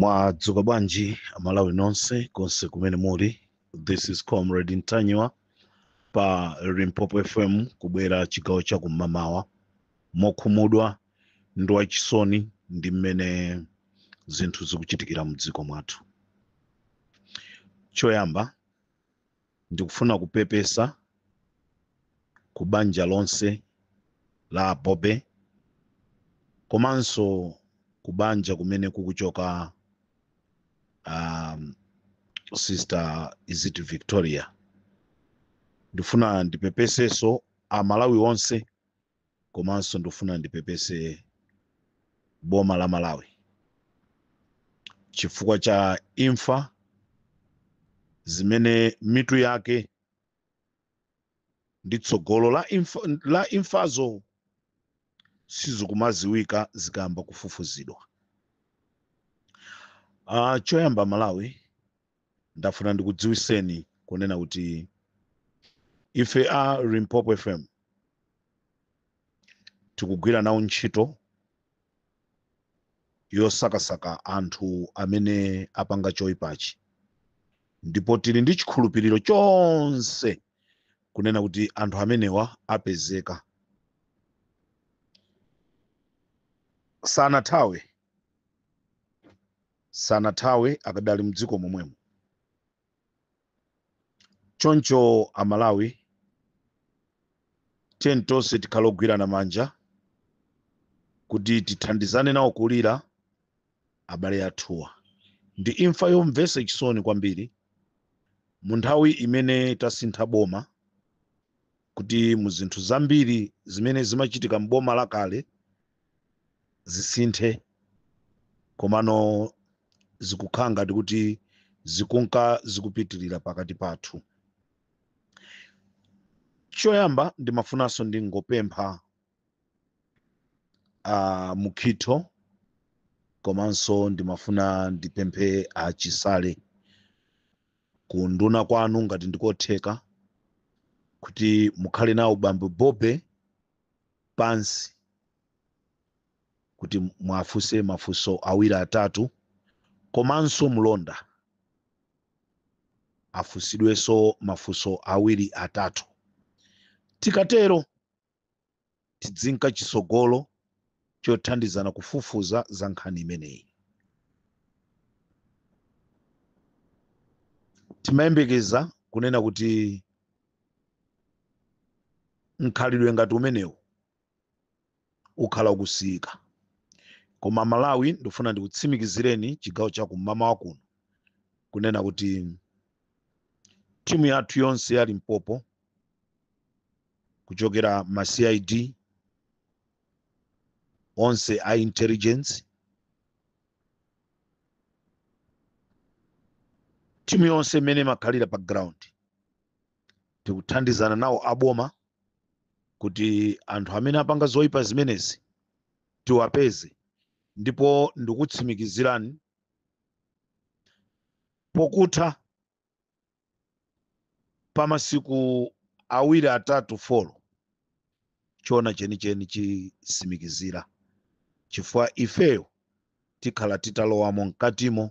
mwadzuka bwanji amalawi nonse konse kumene muli this is comrade ntanyiwa pa limpopo fm kubwera chigawo cha kum'mamawa mokhumudwa ndi wachisoni ndi mmene zinthu zikuchitikira mdziko mwathu choyamba Ndikufuna kupepesa ku banja lonse la a Bobe komanso ku banja kumene kukuchoka um, sister is it Victoria. Ndifuna ndipepeseso Amalawi onse komanso ndifuna ndipepese boma la malawi chifukwa cha imfa zimene mitu yake ndi tsogolo la imfazo sizikumaziwika zikayamba kufufuzidwa uh, choyamba malawi ndafuna ndikudziwiseni kunena kuti ife a limpopo fm tikugwira nawo ntchito yosakasaka anthu amene apanga choyipachi ndipo tili ndi chikhulupiriro chonse kunena kuti anthu amenewa apezeka sanathawe sanathawe akadali mdziko momwemo choncho amalawi tiyeni tonse tikhale ogwirana manja kuti tithandizane nawo kulira abale athuwa ndi imfa yomvesa chisoni kwambiri mu nthawi imene tasintha boma kuti mu zinthu zambiri zimene zimachitika m'boma lakale zisinthe komano zikukhala ngati kuti zikunka zikupitirira pakati pathu choyamba ndimafunanso ndingopempha a mukhitho komanso ndimafuna ndipemphe a chisale ku unduna kwanu ngati ndikotheka kuti mukhale nawo bambo bobe pansi kuti mwafunse mafunso awiri atatu komanso mlonda afunsidwenso mafunso awiri atatu tikatero tidzinka chitsogolo chothandizana kufufuza za nkhani imeneyi timayembekeza kunena kuti mkhalidwe ngati umenewu ukhala ukusiyika koma malawi ndifuna ndikutsimikizireni chigawo cha kum'mawa kuno kunena kuti timu yathu yonse ya limpopo kuchokera ma cid onse a intelligence timu yonse imene imakhalira pa ground tikuthandizana nawo aboma kuti anthu amene apanga zoyipa zimenezi tiwapeze ndipo ndikutsimikizirani pokutha pa masiku awiri atatu folo chona chenicheni chitsimikizira chifukwa ifeyo tikhala titalowamo mkatimo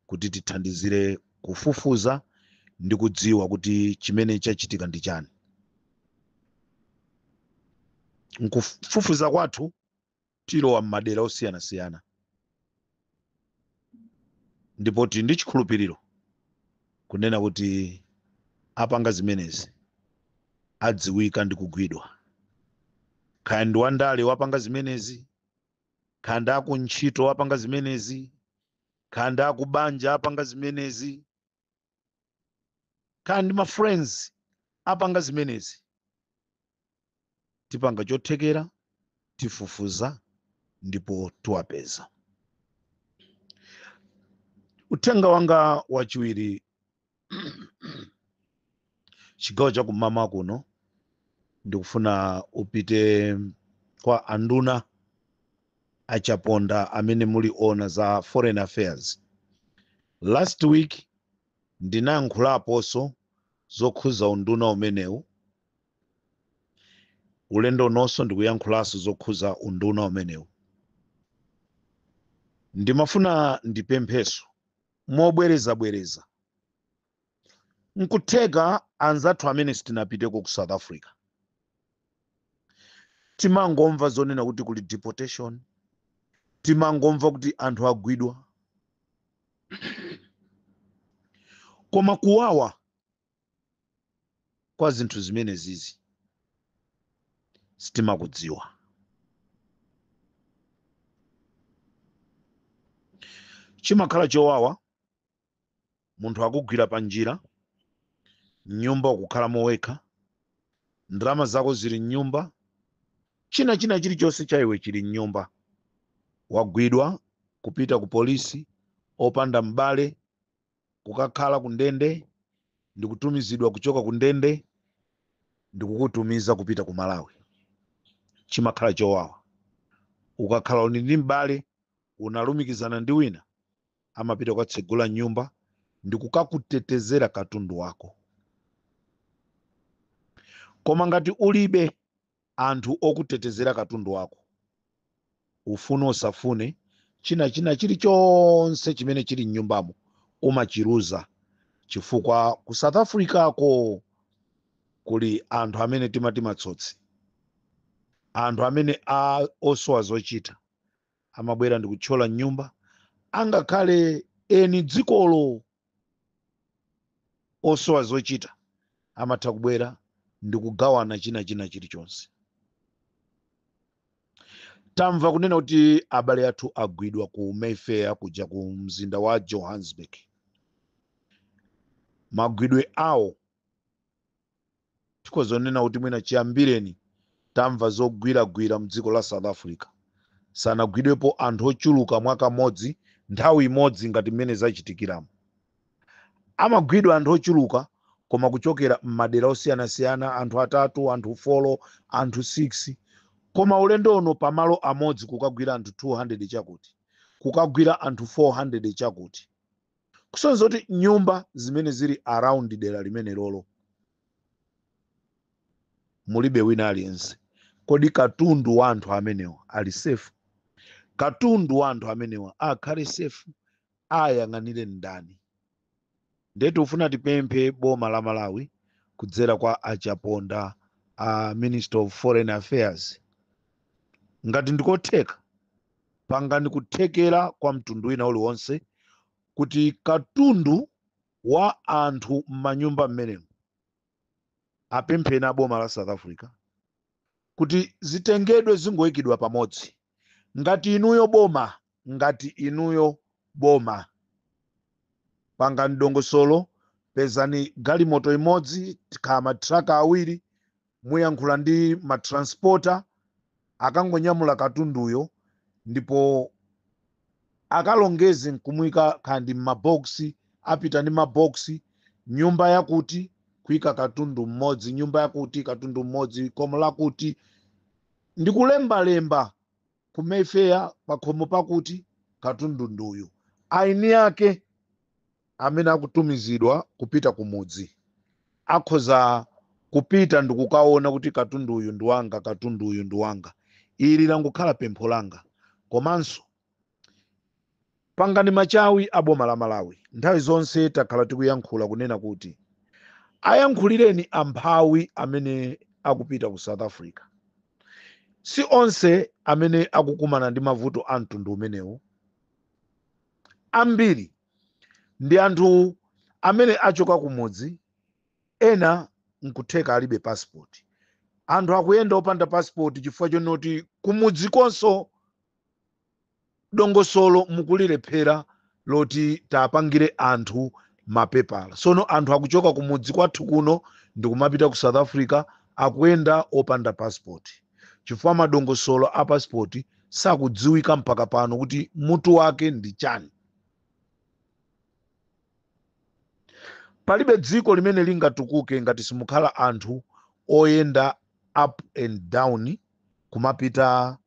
kuti tithandizire kufufuza ndi kudziwa kuti chimene chachitika ndi chani nkufufuza kwathu tilowa m'madera osiyanasiyana ndipo tili ndi chikhulupiriro kunena kuti apanga zimenezi adziwika ndi kugwidwa kaya ndi wandale wapanga zimenezi kaya ndi akuntchito apanga zimenezi kaya ndi akubanja apanga zimenezi kaya ndi ma friends apanga zimenezi tipanga chothekera tifufuza ndipo tiwapeza uthenga wanga wachiwiri chigawo cha kum'mawa kuno ndikufuna upite kwa anduna a chaponda amene muli oona za foreign affairs last week ndinayankhulaponso zokhuza unduna umenewu ulendo unonso ndikuyankhulanso zokhuza unduna umenewu ndimafuna ndipemphenso mobwerezabwereza nkutheka anzathu amene sitinapiteko ku south africa timangomva zonena kuti kuli deportation timangomva kuti anthu agwidwa koma kuwawa kwa zinthu zimenezizi sitimakudziwa chimakhala chowawa munthu akugwira panjira, m'nyumba ukukhalamo wekha, ndalama zako zili m'nyumba, china china chilichonse cha iwe chili m'nyumba. Wagwidwa kupita ku polisi opanda m'bale, kukakhala ku ndende, ndikutumizidwa kuchoka ku ndende ndikukutumiza kupita ku Malawi. Chimakhala chowawa ukakhala uli ndi m'bale unalumikizana ndi wina amapita kukatsegula nyumba ndi kukakutetezera katundu wako koma ngati ulibe anthu okutetezera katundu wako ufune usafune china china chilichonse chimene chili mnyumbamo umachiluza chifukwa ku south africa ko kuli anthu amene timati matsotsi anthu amene a osowa zochita amabwera ndi kuthyola mnyumba angakhale eni dzikolo osowa zochita amatha kubwera ndi kugawana china china chilichonse tamva kunena kuti abale athu agwidwa ku mayfair kuja ku mzinda wa johannesburg magwidwe awo tikhozonena kuti mwina chiyambireni tamva zogwiragwira mdziko la south africa sanagwidwepo anthu ochuluka mwakamodzi nthawi imodzi ngati mmene zachitikiramo amagwidwa anthu ochuluka koma kuchokera m'madera osiyanasiyana anthu atatu anthu folo anthu 6 koma ulendo uno pamalo amodzi kukagwira anthu 200 chakuti kukagwira anthu 400 chakuti kusonza kuti nyumba zimene zili around dera limenelolo mulibe wina aliyense kodi katundu wa anthu amenewa ali safe katundu wa anthu amenewa akhale safe ayang'anire ndani ndiye tikufuna tipemphe boma la malawi kudzera kwa achaponda a minister of foreign affairs ngati ndikotheka pangani kuthekera kwa mtundu wina uliwonse kuti katundu wa anthu m'manyumba mmenemo apempheni aboma la south africa kuti zitengedwe zingoyikidwa pamodzi ngati inuyo boma ngati inuyo boma pangani dongosolo pezani galimoto imodzi kaya matraka awiri Muyankhule ndi ma transporter akangonyamula katunduyo ndipo akalongeze nkumuika kaya ndi mma box, apita ndi ma box, nyumba yakuti kuika katundu mmodzi, nyumba yakuti katundu mmodzi, khomo lakuti, ndikulembalemba. ku mayfair pakhomo pakuti katundu ndi uyu eni ake amene akutumizidwa kupita kumudzi akhoza kupita ndikukaona kuti katundu uyu ndi wanga katundu uyu ndi wanga ili langokhala pempho langa komanso Pangani machawi a boma la Malawi. Nthawi zonse takhala tikuyankhula kunena kuti ayankhulireni amphawi amene akupita ku South Africa. Si onse amene akukumana ndi mavuto a mtundu umenewu. Ambiri ndi anthu amene achoka kumudzi, ena nkutheka alibe passport. Anthu akuyenda opanda passport chifukwa chonoti kumudzikonso dongosolo mukulilephera loti tapangire anthu mapepala sono anthu akuchoka kumudzi kwathu kuno ndikumapita ku south africa akuyenda opanda passport chifukwa madongosolo a passport sakudziwika mpaka pano kuti mutu wake ndi chani palibe dziko limene lingatukuke ngati simukukhala anthu oyenda up and down kumapita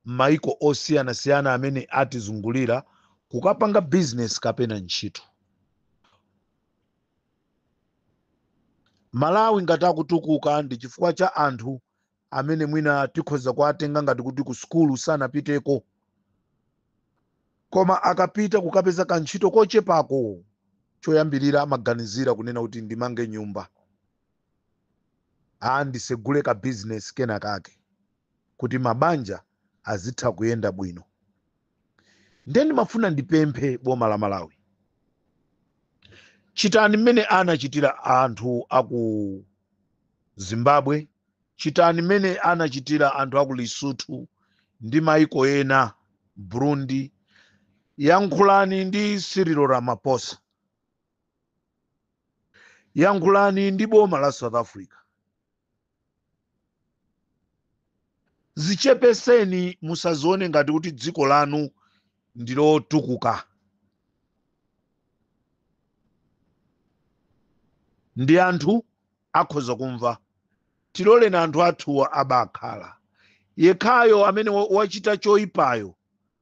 m'mayiko osiyanasiyana amene atizungulira kukapanga bizinesi kapena ntchito. Malawi ngati akutukuka ndi chifukwa cha anthu amene mwina tikhoza kuwatenga ngati kuti ku sukulu sanapiteko, koma akapita kukapeza kantchito kochepako, choyambirira amaganizira kunena kuti ndimange nyumba, aa ndisegule kabizinesi kenakake. kuti mabanja azitha kuyenda bwino ndiye ndimafuna ndipemphe boma la malawi chitani mmene anachitira anthu aku zimbabwe chitani mmene anachitira anthu aku lesotho ndi maiko ena burundi yankhulani ndi cyril ramaphosa yankhulani ndi boma la south africa Zichepeseni musazione ngati kuti dziko lanu ndilotukuka. Ndi anthu akhoza kumva. Tiloleni anthu athuwa abakhala. Yekhayo amene wa- wachita choipayo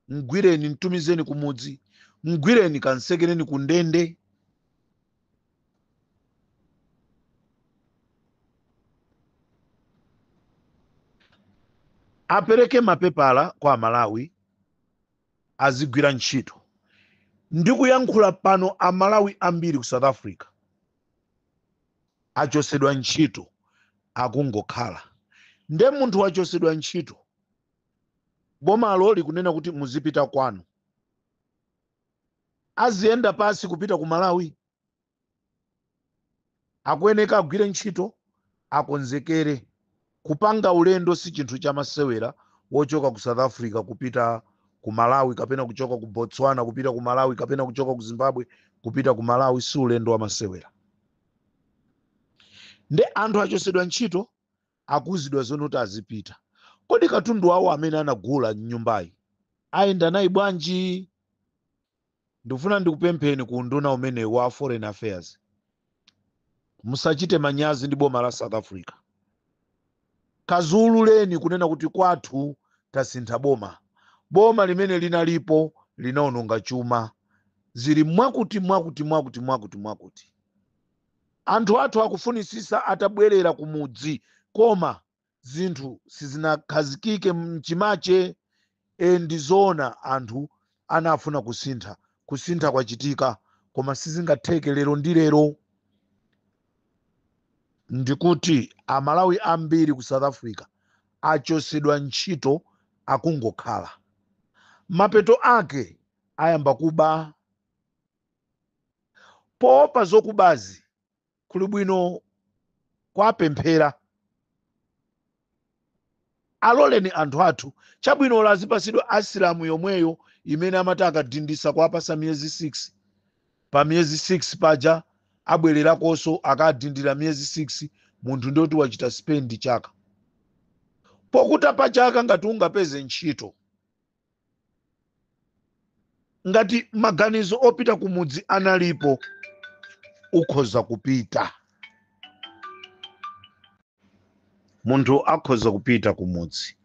mgwireni mtumizeni kumudzi mgwireni kansekereni ku ndende apereke mapepala kwa amalawi azigwira ntchito ndikuyankhula pano amalawi ambiri ku south africa achosedwa ntchito akungokhala nde munthu wachosedwa ntchito Bomalo likunena kuti muzipita kwanu. Aziyenda pasi kupita ku Malawi? Akuyeneka agwire ntchito, akonzekere. Kupanga ulendo si chinthu cha masewera wochoka ku South Africa kupita ku Malawi kapena kuchoka ku Botswana kupita ku Malawi kapena kuchoka ku Zimbabwe kupita ku Malawi si ulendo wa masewera. Nde anthu achosedwa ntchito Akuuzidwa zonena kuti azipita. Kodi katundu wawo amene anagula m'nyumbayi ayenda naye bwanji? Ndikufuna ndikupempheni ku unduna umene wa Foreign Affairs, musachite manyazi ndi boma la South Africa. Kadziwuzeni kunena kuti kwathu tasintha boma. Boma limene linalipo linaononga chuma. Zili mwakuti mwakuti mwakuti mwakuti mwakuti. Anthu athu akufunisisa atabwerera kumudzi koma zinthu sizinakhazikike mchimache ee ndizoona anthu anafuna kusintha kusintha kwachitika koma sizingatheke lero ndi lero ndikuti amalawi ambiri ku south africa achosedwa ntchito akungokhala mapeto ake ayamba kuba poopa zokubazi kuli bwino kuwapemphera aloleni anthu athu chabwino ola azipasidwa asylum yomweyo imene amati akadindisa kuwapasa miyezi 6 pa miyezi 6 paja abwererakonso akadindira miyezi 6 munthu ndi woti wachita spend chaka pokutha pa chaka ngati ungapeze ntchito ngati maganizo opita kumudzi analipo ukhoza kupita munthu akhoza kupita kumudzi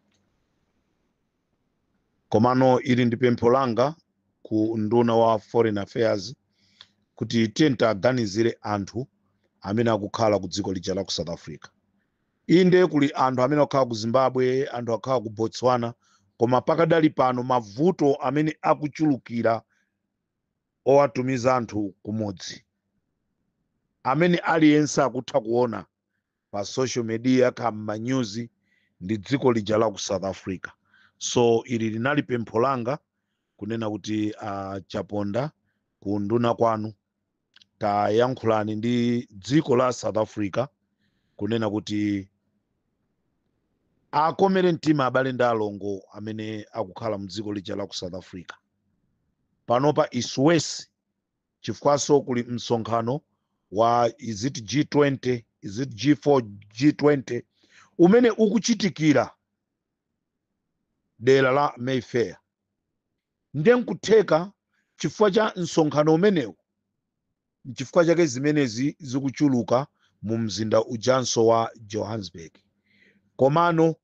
komano ili ndi pempho langa ku nduna wa foreign affairs kuti tiyeni tiwaganizire anthu amene akukhala ku dziko lija la ku south africa Inde kuli anthu amene akukhala ku Zimbabwe, anthu akukhala ku Botswana koma pakadali pano mavuto amene akuchulukira owatumiza anthu kumudzi amene aliyense akutha kuona pa social media kaya m'manyuzi ndi dziko lija la ku South Africa. So ili linali pempho langa kunena kuti a Chaponda ku unduna kwanu tayankhulani ndi dziko la south africa kunena kuti akomere mtima abale ndi alongo amene akukhala mdziko lija la ku south africa panopa is worse chifukwanso kuli msonkhano wa is it g20 is it g4 g20 umene ukuchitikira dera la mayfair Ndiye n'kutheka chifukwa cha msonkhano umenewu n'chifukwa chake zimenezi zikuchuluka mumzinda ujanso wa Johannesburg. Komano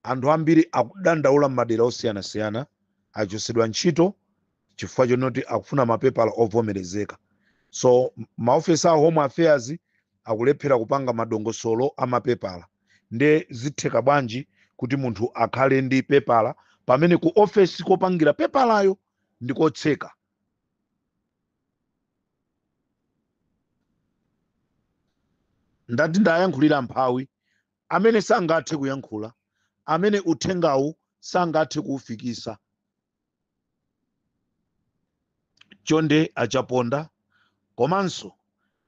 anthu ambiri akudandaula m'madera osiyanasiyana, achotsedwa ntchito chifukwa chonoti akufuna mapepala ovomerezeka. So maofesi a Home Affairs akulephera kupanga madongosolo a mapepala nde zitheka bwanji kuti munthu akhale ndi pepala pamene ku ofesi kopangira pepalayo ndi kotseka ndati ndiyankhulire mphawi amene sangathe kuyankhula amene uthengawu sangathe kuufikisa chonde a Chaponda komanso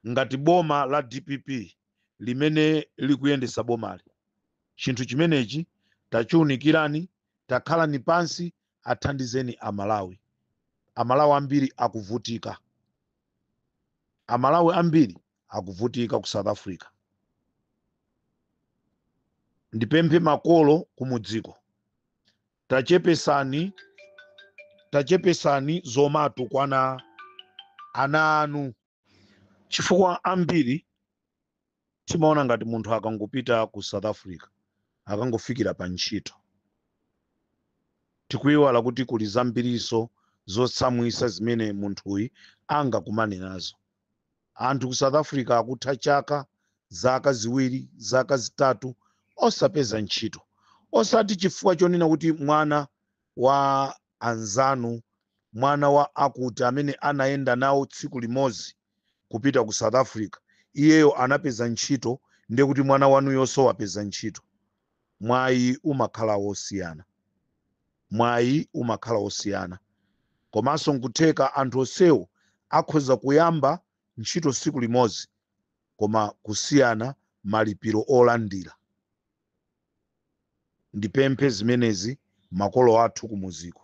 ngati boma la dpp limene likuyendesa bomali chinthu chimenechi tachiunikirani takhalani pansi athandizeni amalawi amalawi ambiri akuvutika amalawi ambiri akuvutika ku south africa ndipemphe makolo kumudziko Tachepesani tachepesani zomatukwana ana anu. Chifukwa ambiri timaona ngati munthu akangopita ku South Africa akungofikira pa ntchito tikuiwala kuti kuli zambirinso zotsamwisa zimene munthuyi angakumane nazo. Anthu ku South Africa akutha chaka, zaka ziwiri, zaka zitatu osapeza ntchito. Osati chifukwa chonena kuti mwana wa anzanu, mwana wa akuti amene anayenda nawo tsiku limodzi kupita ku South Africa, iyeyo anapeza ntchito ndiye kuti mwana wanuyonso wapeza ntchito. mwayi umakhala wosiyana mwayi umakhala wosiyana komanso nkutheka anthu onsewo akhoza kuyamba ntchito tsiku limodzi koma kusiyana malipiro olandira ndipemphe zimenezi makolo athu kumuziko.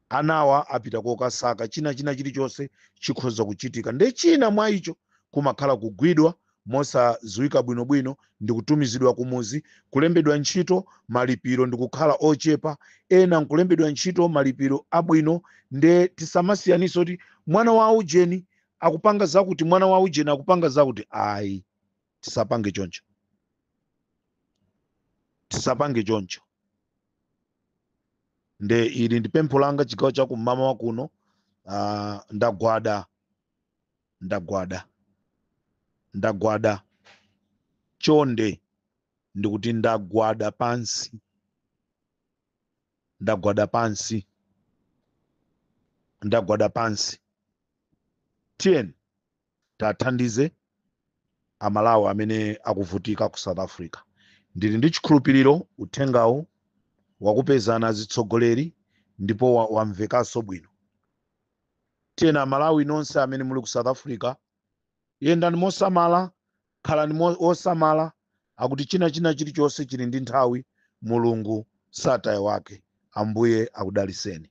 anawa apita kokasaka china china chilichonse chikhoza kuchitika nde china mwa icho kumakhala kugwidwa mosadziwika bwinobwino ndikutumizidwa kumuzi kulembedwa ntchito malipiro ndikukhala ochepa ena nkulembedwa ntchito malipiro abwino nde tisamasiyanise kuti mwana wa aujeni akupanga zakuti mwana wa aujeni akupanga zakuti ayi tisapange choncho tisapange choncho nde ili ndi pempho langa chigawo cha kummawa kuno uh, ndagwada ndagwada ndagwada chonde ndikuti ndagwada pansi ndagwada pansi ndagwada pansi tiyeni tathandize amalawi amene akuvutika ku south africa ndili ndi chikhulupiriro uthengawu wakupezani atsogoleri ndipo wa- wamvekanso bwino tiyeni amalawi nonse amene muli ku south africa yendani mosamala khalani mo- osamala akuti china china chilichonse chili ndi nthawi mulungu sataya wake ambuye akudaliseni